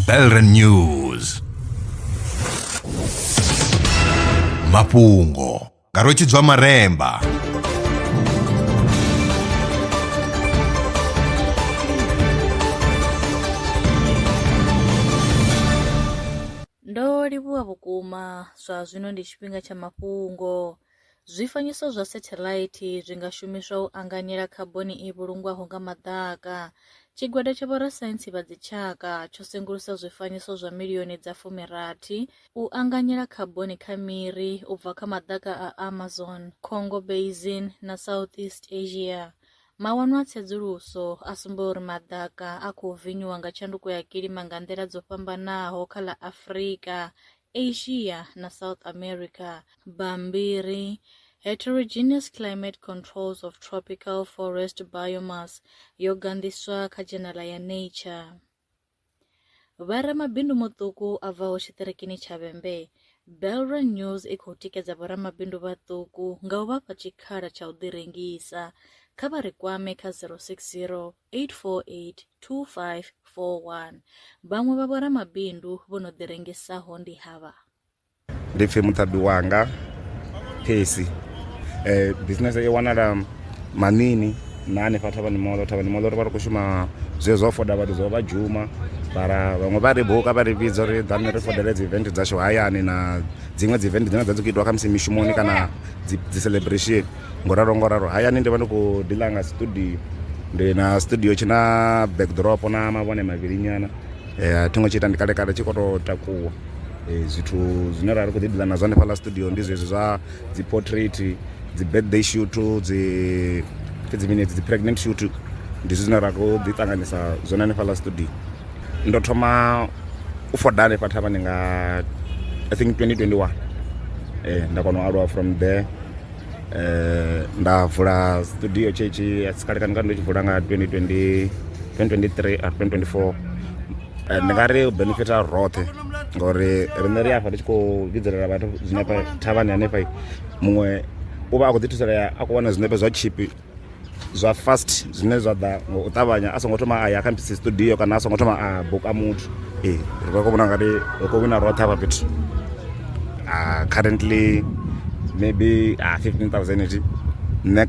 Belren News mafhungo nga rwetshidzwa maremba ndo livhuwa vhukuma zwa zwino ndi tshifhinga tsha mafhungo Zwifanyiso zwa sathelaithi zwi nga shumiswa u anganyela khaboni i vhulungwaho nga maḓaka. Tshigwada tsha vhorasaintsi vha dzitshaka tsho sengulusa zwifanyiso zwa milioni dza fumirathi u anganyela khaboni kha miri u bva kha maḓaka a Amazon, Congo Basin na Southeast Asia. Mawanwa a tsedzuluso a sumba uri maḓaka a khou vinyuwa nga tshanduko ya kilima nga nḓila dzo fhambanaho kha ḽa Afrika, Asia na South America. Bammbiri, Heterogeneous Climate Controls of Tropical Forest Biomass yo ganḓiswa kha dzhenala ya Nature. Vha ramabindu muṱuku a bvaho tshiṱirikini tsha Vhembe, Belra News i khou tikedza vhoramabindu vhaṱuku nga u vha fha tshikhala tsha u ḓirengisa. Kha vha ri kwame kha 060 8482541. Vhaṅwe vha vhoramabindu vho no ḓirengisaho ndi havha. Ndi pfi muṱaḓi wanga Phesi. Bisinese i wanala Manini na hanefha Thavhani Moḽo. Thavhani Moḽo ri vha ri khou shuma zwezwi zwa u foda vhathu zwa u vha dzhuma mara vhaṅwe vha ri buka vha ri vhidza uri ḓani ri fodele dzi event dzashu hayani na dziṅwe dzi event dzine dza dzi khou itiwa khamusi mishumoni kana dzi dzi celebration. Ngo ralo ngo ralo hayani ndi vha ndi khou diḽa nga studio ndi na studio tshi na backdrop na mavhone mavhili nyana a thi ngo tshi ita ndi kale kale tshi khou tou takuwa zwithu zwine ra ri khou ḓi diḽa nazwo hanefhaḽa studio ndi zwezwi zwa dzi portrait dzi birthday shoot dzi pfhi dzi mini hedzi dzi pregnant shoot ndi zwithu zwine ra khou ḓi ṱanganyisa zwone hanefhaḽa studio ndo thoma u foda hanefha thavhani nga i think 2021 nda kona u aluwa from there eh, nda vula studio tshetshe a si kalekani kani ndo tshi vula nga 2020 2023 or 2024 eh, ndi nga ri u benefita roṱhe ngauri riṋe ri afha ri tshi khou vhidzelela vhathu zwinepe thavhani hanefha muṅwe u vha a khou ḓi thusalea a khou wana zwinepe zwa tshipi zwa fast zwine zwa ḓa ngo u ṱavhanya a songo thoma a ya kha mpisi studio kana a songo thoma a buka muthu ee ri vha khou vhona ngati ri khou wina roṱhe hafha fhethu ah, currently maybe ah, 15000 iti nṋe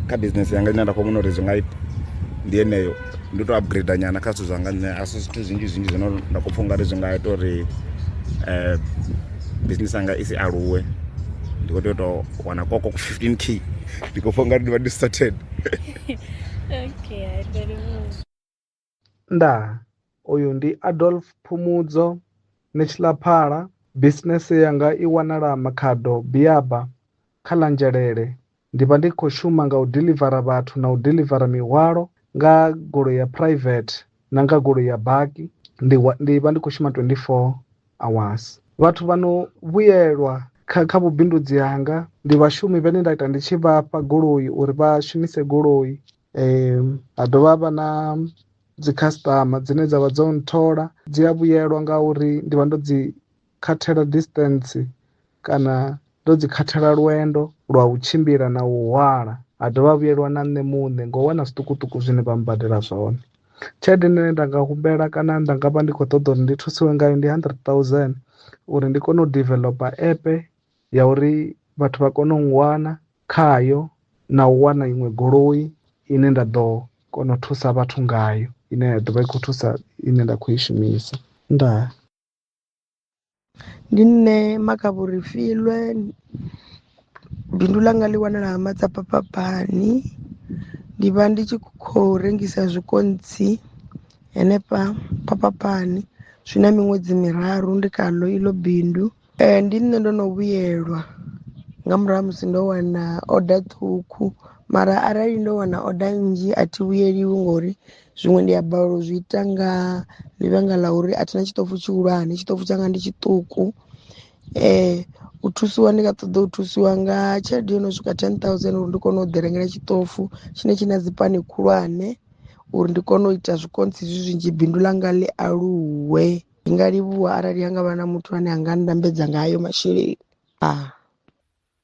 kha business yanga ine nda khou vhona uri zwi nga ita ndi yeneyo ndi to upgrade nyana kha zwithu zwanga nṋe a si zwithu zwinzhi zwinzhi zwino nda khou pfha ungari zwi nga ita uri um business yanga i si aluwe ndi khou tea u tou wana koko 15 k ndi khou pfa ungari ndi vha ndi started okay i very much nda uyu ndi adolf phumudzo ni tshilaphala bisinese yanga i wanala makhado biaba kha ḽa nzhelele ndi vha ndi khou shuma nga u dilivara vhathu na u dilivara mihwalo nga goloi ya private na nga goloi ya baki ndi ndi vha ndi khou shuma 24 hours vhathu vha no vhuyelwa kha kha vhubindudzi hanga ndi vhashumi vhane nda ita ndi tshi vhafha goloi uri vha shumise goloi um ha dovha vha na dzi customer dzine dzavha dzo nthola dzi a vhuyelwa nga uri ndi vha ndo dzi khathela distance kana ndo dzi khathela lwendo lwa u tshimbila na u hwala ha dovha vhuyelwa na nṋe muṋe ngo wana zwiṱukuṱuku zwine vha mbadela zwone tshelede ine nda nga humbela kana nda nga vha ndi khou ṱoḓa uri ndi thusiwe ngayo ndi hundred thousand uri ndi kone u developer app ya uri vhathu vha kone u wana khayo na u wana iṅwe goloi ine nda ḓo kona u thusa vhathu ngayo ine ya ḓovha i kho thusa ine nda kho i shumisa ndaa. Ndi nṋe Makavhorifilwe bindu ḽanga ḽi wanala ha Matsapapapani ndi vha ndi tshi khou rengisa zwikontsi hanefha Phaphaphani zwi na miṅwedzi miraru ndi khaḽo iḽo bindu. Ndi nṋe ndo no vhuyelwa nga murahu ha musi ndo wana order ṱhukhu mara arali ndo wana order nnzhi a thi vhuyeliwi ngori zwiṅwe ndi a balelwa u zwi ita nga ḽivhanga ḽa uri a thina tshiṱofu tshihulwane tshiṱofu tshanga ndi tshiṱuku um u thusiwa ndi nga ṱoḓa u thusiwa nga tshelede yo no swika ten thousand uri ndi kone u ḓi rengela tshiṱofu tshine tshi na dzi pani khulwane uri ndi kone u ita zwikontsi zwi zwinzhi bindu ḽanga ḽi aluwe ndi nga livhuwa arali ha nga vha na muthu ane a nga nndambedza nga hayo masheleni a